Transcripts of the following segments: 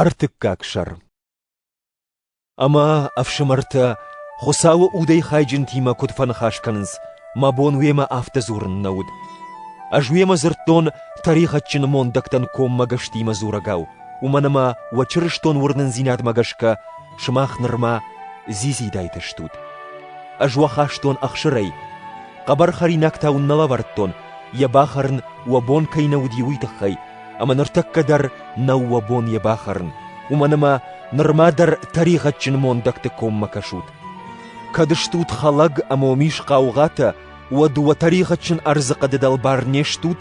Ӕртыккаг сӕр Ӕмӕ, ӕфсымӕртӕ, Хуыцауы удӕй хайджынтимӕ куыд фӕныхас кӕнынц, мӕ бон уемӕ афтӕ дзурын нӕ уыд. Ӕз уемӕ дзырдтон тӕригъӕдджын мондӕгтӕн коммӕгӕстимӕ дзурӕгау, уымӕн ӕмӕ уӕ чырыстон уырнындзинадмӕ гӕсгӕ сымах нырма дзидзидайтӕ стут. Ӕз уӕ хастон ӕхсырӕй, хъӕбӕр хӕринаг та уын нӕ лӕвӕрдтон, йӕ бахӕрын уӕ бон кӕй нӕ уыди, уый тыххӕй, ӕмӕ ныртӕккӕ дӕр нӕу уӕ бон йӕ бахӕрын, уымӕн ӕмӕ нырма дӕр тӕригъӕдджын мондӕгты коммӕ кӕсут. Кӕд стут хӕлӕг ӕмӕ уым ис хъаугъатӕ, уӕд уӕ тӕригъӕдджын ӕрдзы хъӕды дӕлбар не стут,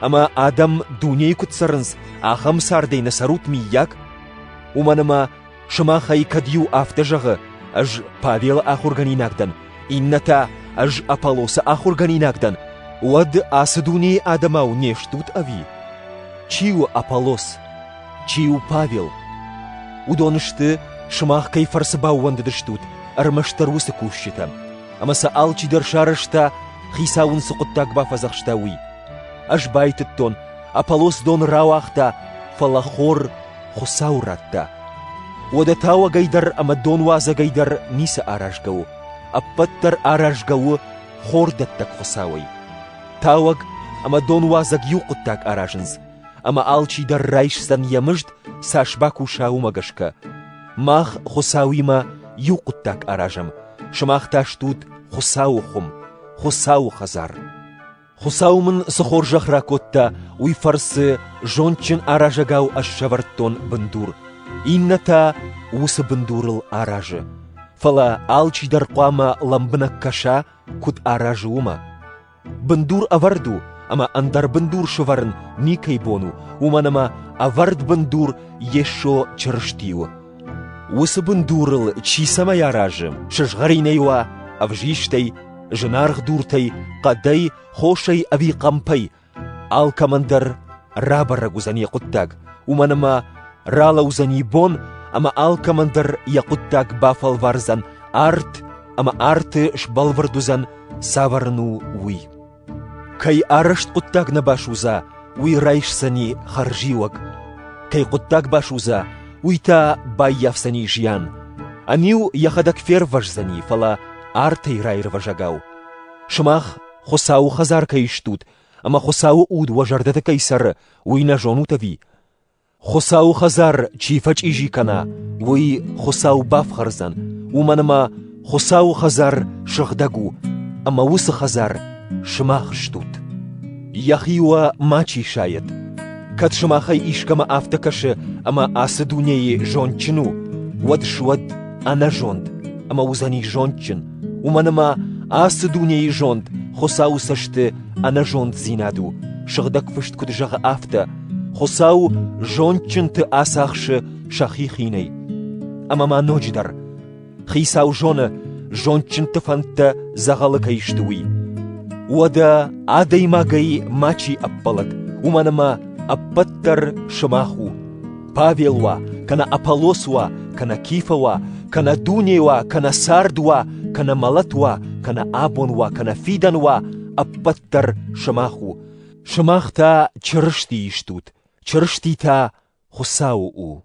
ӕмӕ адӕм дунейы куыд цӕрынц, ахӕм цардӕй нӕ цӕрут, миййаг? Уымӕн ӕмӕ Сымах ӕй кӕд иу афтӕ зӕгъы, ӕз Павелы ахуыргӕнинаг дӕн, иннӕ та ӕз Аполлосы ахуыргӕнинаг дӕн, уӕд ацы дунейы адӕмау не стут ӕви? Чи у Аполлос? Чи у Павел? Уыдон сты, сымах кӕй фӕрцы баууӕндыдыстут, ӕрмӕстдӕр уыцы кусджытӕм, ӕмӕ сӕ алчидӕр сарӕзта, хицау ын цы хъуыддаг бафӕдзӕхста, уый. Ӕз байтыдтон, Аполлос дон рауагъта, фӕлӕ хор Хуыцау радта. Уӕдӕ тауӕгӕй дӕр ӕмӕ донуадзӕгӕй дӕр ницы аразгӕ у. Ӕппӕт дӕр аразгӕ у хордӕттӕг Хуыцауӕй. Тауӕг ӕмӕ донуадзӕг иу хъуыддаг аразынц, ӕмӕ алчи дӕр райсдзӕн йӕ мызд, цас бакуса, уымӕ гӕсгӕ. Мах Хуыцауимӕ иу хъуыддаг аразӕм, сымах та стут Хуыцауы хуым, Хуыцауы хӕдзар. Хуыцау мын цы хорзӕх ракодта, уый фӕрцы зондджын аразӕгау ӕз сӕвӕрдтон бындур, иннӕ та уыцы бындурыл аразы, фӕлӕ алчи дӕр хъуамӕ лӕмбынӕг кӕса, куыд аразы, уымӕ. Бындур ӕвӕрд у, ӕмӕ ӕндӕр бындур сывӕрын никӕй бон у, уымӕн ӕмӕ ӕвӕрд бындур Йесо Чырысти у. Уыцы бындурыл чи цӕмӕй аразы, сызгъӕринӕй уа, ӕвзистӕй, зынаргъ дуртӕй, хъӕдӕй, хосӕй ӕви хъӕмпӕй, алкӕмӕн дӕр рабӕрӕг уыдзӕн йӕ хъуыддаг, уымӕн ӕмӕ ралӕудзӕни бон, ӕмӕ алкӕмӕн дӕр йӕ хъуыддаг бафӕлвардзӕн арт, ӕмӕ арты сбӕлвырд уыдзӕн, цавӕр ын у, уый. Кӕй арӕзт хъуыддаг нӕ басудза, уый райсдзӕни хӕрзиуӕг. Кӕй хъуыддаг басудза, уый та баййафдзӕни зиан. Ӕниу йӕхӕдӕг фервӕздзӕни, фӕлӕ артӕй раирвӕзӕгау. Сымах Хуыцауы хӕдзар кӕй стут, ӕмӕ Хуыцауы уд уӕ зӕрдӕты кӕй цӕры, уый нӕ зонут ӕви? Хуыцауы хӕдзар чи фӕчъизи кӕна, уый Хуыцау бафхӕрдзӕн, уымӕн ӕмӕ Хуыцауы хӕдзар сыгъдӕг у, ӕмӕ уыцы хӕдзар сымах стут. Йӕхи уӕ мачи сайӕд. Кӕд сымахӕй искӕмӕ афтӕ кӕсы, ӕмӕ ацы дунейы зондджын у, уӕд суӕд ӕнӕзонд, ӕмӕ уыдзӕни зондджын, уымӕн ӕмӕ ацы дунейы зонд Хуыцауы цӕсты ӕнӕзонддзинад у, сыгъдӕг фыст куыд зӕгъы, афтӕ: Хуыцау зондджынты ацахсы сӕхи хинӕй. Ӕмӕ ма ноджыдӕр: Хицау зоны, зондджынты фӕндтӕ дзӕгъӕлы кӕй сты, уый. Уӕдӕ адӕймагӕй мачи ӕппӕлӕг, уымӕн ӕмӕ ӕппӕт дӕр сымах у. Павел уа, кӕнӕ Аполлос уа, кӕнӕ Кифа уа, кӕнӕ дуне уа, кӕнӕ цард уа, кӕнӕ мӕлӕт уа, кӕнӕ абон уа, кӕнӕ фидӕн уа, ӕппӕт дӕр сымах у. Сымах та Чырысти истут, Чырысти та Хуыцауы у.